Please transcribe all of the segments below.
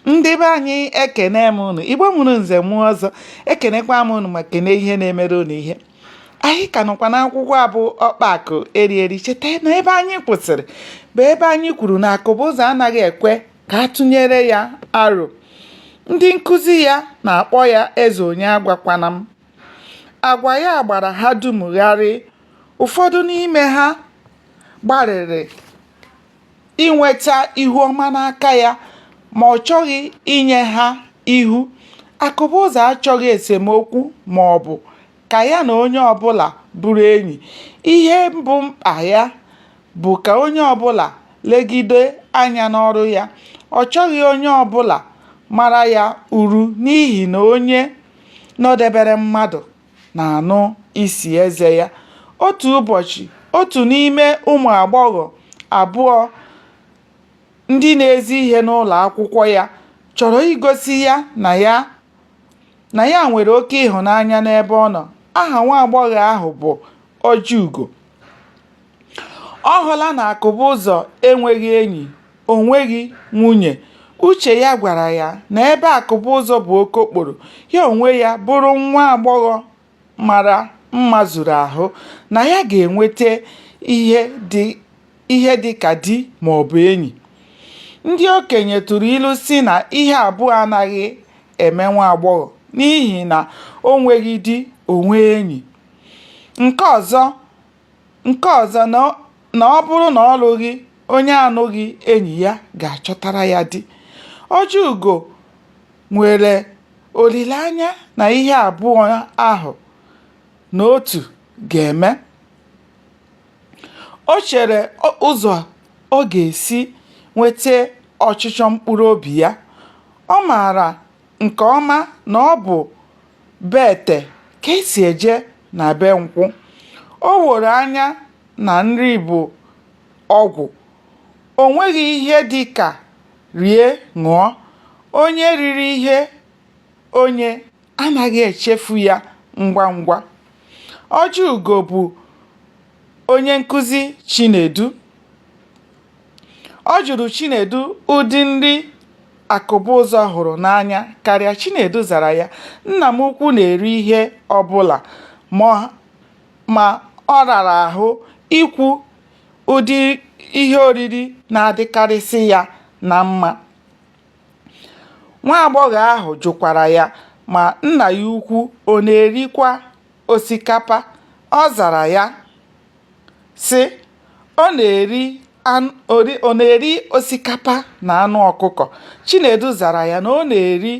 ndị be anyị ekene m unu igbo mụrụ nze mụọ ọzọ ekenekwa m unu ma kene ihe na-emere unu ihe anyị ka nọkwa n'akwụkwọ a bụ ọkpa akụ eri eri cheta na ebe anyị kwụsịrị bụ ebe anyị kwuru na akụbụzọ anaghị ekwe ka a tụnyere ya aro ndị nkụzi ya na-akpọ ya eze onye agwakwana m agwa ya gbara ha dum gharị ụfọdụ n'ime ha gbalịrị inweta ihu ọma n'aka ya ma ọ chọghị inye ha ihu. Akụbụzọ achọghị esemokwu ma ọ bụ ka ya na onye ọbụla bụrụ enyi. Ihe bụ mkpa ya bụ ka onye ọbụla legide anya n'ọrụ ya. Ọ chọghị onye ọbụla mara ya uru n'ihi na onye nọdebere mmadụ na-anụ isi eze ya. Otu ụbọchị, otu n'ime ụmụ agbọghọ abụọ ndị na-ezi ihe n'ụlọ akwụkwọ ya chọrọ igosi ya na ya nwere oke ịhụnanya n'ebe ọ nọ. Aha nwa agbọghọ ahụ bụ Ojiugo. Ọ hụla na Akụbụzọ enweghị enyi. o nweghị nwunye. Uche ya gwara ya na ebe Akụbụzọ bụ okokporo, ya onwe ya bụrụ nwa agbọghọ mara mma zuru ahụ, na ya ga-enweta ihe dị ka di ma ọ bụ enyi. Ndị okenye tụrụ ilu sị na ihe abụọ anaghị eme nwa agbọghọ n'ihi na o nweghị di, o nwee enyi. Nke ọzọ Nke ọzọ na ọ bụrụ na ọ lụghị onye anụghị enyi ya ga-achọtara ya di. Ojiugo nwere olileanya na ihe abụọ ahụ na otu ga-eme. O chere ụzọ ọ ga-esi nweta ọchịchọ mkpụrụobi ya. Ọ maara nke ọma na ọ bụ be ete ka esi eje na be nkwụ o woro anya na nri bụ ọgwụ o nweghị ihe dị ka rie ṅụọ onye riri ihe onye anaghị echefu ya ngwa ngwa ojiugo bụ onye nkụzi Chinedu. Ọ jụrụ Chinedu ụdị nri Akụbụzọ hụrụ n'anya karịa. Chinedu zara ya, Nna m ukwu na-eri ihe ọbụla ma ọ rara ahụ ikwu ụdị ihe oriri na-adịkarịsị ya na mma. Nwa agbọghọ ahụ jụkwara ya ma nna ya ukwu ọ na-erikwa osikapa, ọ zara ya, sị, Ọ na-eri osikapa na anụ ọkụkọ. Chinedu zara ya na ọ na-eri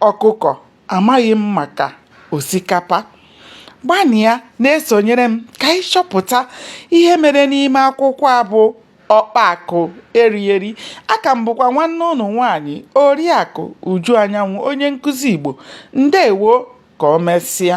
ọkụkọ, amaghị m maka osikapa. Gbanịa na-esonyere m ka anyị chọpụta ihe mere n'ime akwụkwọ a bụ ọkpa akụ eri eri aka m bụkwa nwanne unu nwaanyị oriakụ uju anyanwụ onye nkụzi igbo ndewo ka o mesịa